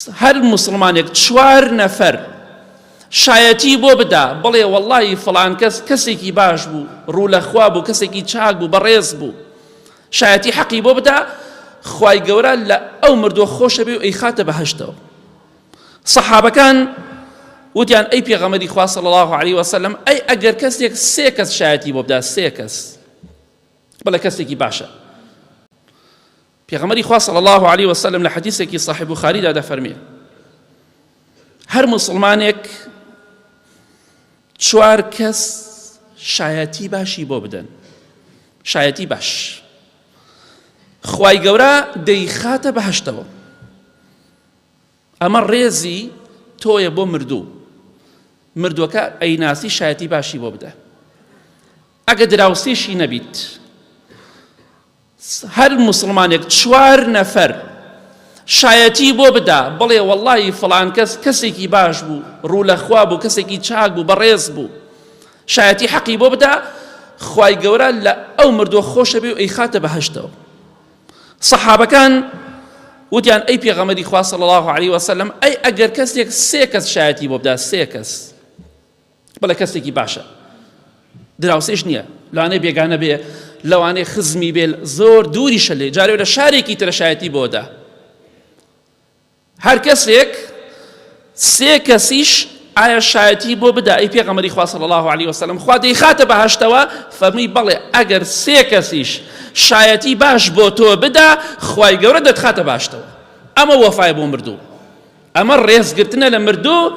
هەر موسڵمانێک چوار نەفەر شایەتی بۆ بدا بڵێ وەڵڵاهی فڵان کەس کەسێکی باش بوو ڕوو لە خوا بوو کەسێکی چاک بوو بەڕێز بوو شایەتی حەقی بۆ بدا خوای گەورە لە ئەو مردووە خۆشە بێ و ئەی خاتە بەهشتەوە سەحابەکان وتیان ئەی پێغەمەری خوا صلی الله علیه وسلم ئەی ئەگەر کەسێک سێ کەس شایەتی بۆ بدا سێ کەس بڵێ کەسێکی باشە پێغەمبەری خوا صلی اللە علیە وسلم لە حەدیسێکی صحیح بوخاریدا دەفەرمێ هەر مسلمانێک چوار کەس شایەتی باشی بۆ بدەن شایەتی باش خوای گەورە دەیخاتە بەهشتەوە ئەمە ڕێزی تۆیە بۆ مردوو مردوەکە ئەیناسی شایەتی باشی بۆ بدە ئەگە دراوسێشی نەبیت هەر مسلمانێک چوار نەفەر شایەتی بۆ بدا بڵێ واللهی فلان کەس کەسێکی باش بوو ڕوو لە خوا بوو کەسێکی چاک بوو بەڕێز بوو شایەتی حەقی بۆ بدا خی گەورە لە ئەو مردووە خۆشە بێ و ئەی خاتە بەهشتەوە سەحابەکان وتیان ئەی پێغەمبەری خوا صلی الله علیه و سلم ئەی ئەگەر کەسێک سێ کەس شایەتی بۆ بدا سێ کەس بەڵێ کەسێکی باشە دراوسێش نییە لەوانەیە بێگانە بێ لەوانەیە خزمی بێ زۆر دووری شەلێ جارێ لە شارێکی ترە شایەتی بۆدا هەر کەسێک سێ کەسیش ئایا شایەتی بۆ بدا ئەی پێغەمەری خوا صلی الله علیه وسلم خوا دەیخاتە بەهشتەوە فەرمی بەڵێ ئەگەر سێ کەسیش شایەتی باش بۆ تۆ بدا خوای گەورە دەتخاتە باشتەوە ئەمە وەفای بۆ مردوو ئەمە ڕێزگرتنە لە مردوو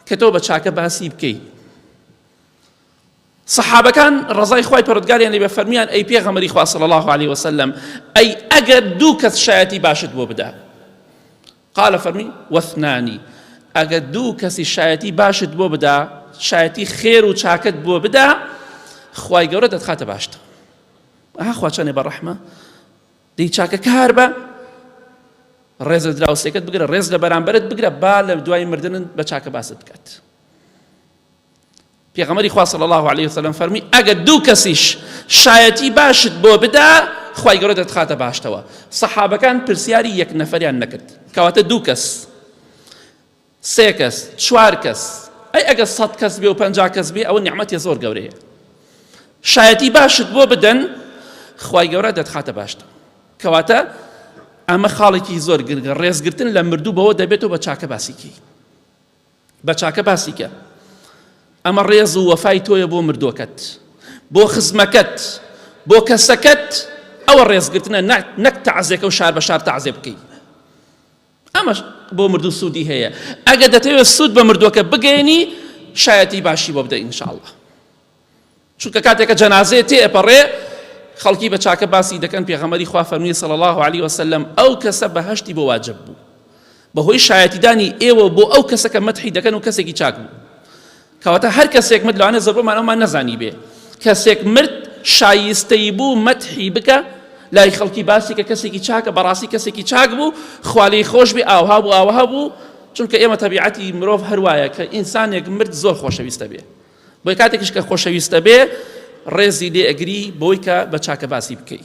کە تۆ بە چاکە باسی بکەیت سەحابەکان ڕەزای خوای پەرۆدگاریان لێ بێ فەرمیان ئەی پێغەمەری خوا صلی الله علیه وسلم ئەی ئەگەر دوو کەس شایەتی باشت بۆ بدا قال فەرمی وەثنانی ئەگەر دوو کەسی شایەتی باشت بۆ بدا شایەتی خێر و چاکت بۆ بدا خوای گەورە دەتخاتە باشتە ئەها خواچانێ بە ڕەحمە دەی چاکە کار بە ڕێز لە دراوسێکەت بگرە ڕێز لە بەرامبرت بگرە با لە دوای مردن بە چاکە باست بکات پێغەمبەری خوا صلی اللە علیە وسلم فەرمی ئەگەر دوو کەسیش شایەتی باشت بۆ بدا خوای گەورە دەتخاتە باشتەوە سەحابەکان پرسیاری یەک نەفەریان نەکرد کەواتە دوو کەس سێ کەس چوار کەس ئەی ئەگەر سەد کەس بێ و پەنج کەس بێ ئەوە نیعممەتی زۆر گەورەیە شایەتی باشت بۆ بدەن خوای گەورە دەتخاتە باشتە کەواتە ئەمە خاڵێکی زۆر گرگە ڕێزگرتن لە مردوو بەوە دەبێتەوە بە چاکە باسیکەی بە چاکە باسی کە. ئەمە ڕێز و وەفای تۆیە بۆ مردوەکەت بۆ خزمەکەت بۆ کەسەکەت ئەوە ڕێزگرتنە نەک تەعزێکە و شار بە شار تەعزێ بکەیت ئەمە بۆ مردوو سوودی هەیە ئەگە دەتەوێت سوود بە مردوەکە بگەێنی شایەتی باشی بۆ بدە ئینشاءله چونکە کاتێکە جەنازەیە تێ ئەپەڕێ خەڵکی بە چاکە باسی دەکەن پێغەمەری خوا فەرمی سەڵ الله عليه وسلم ئەو کەسە بەهشتی بۆ واجب بوو بەهۆی شایەتیدانی ئێوە بۆ ئەو کەسەکە مەتحی دەکەن و کەسێکی چاک بوو کەواتە هەر کەسێک مت لەوانە زەبمان ئەومان نەزانی بێ کەسێک مرد شایستەی بوو مەتحی بکە لای خەڵکی باسی کە کەسێکی چاکە بەڕاستی کەسێکی چاک بوو خوالی خۆش بێ ئاوها بوو ئاوها بوو چونکە ئێمە تەبیعەتی مرۆڤ هەروایە کە ئینسانێک مرد زۆر خۆشەویستە بێ بۆیە کاتێکیش کە خۆشەویستت ئەبێ ڕێزی لێ ئەگری بۆی کە بە چاکە باسی بکەی.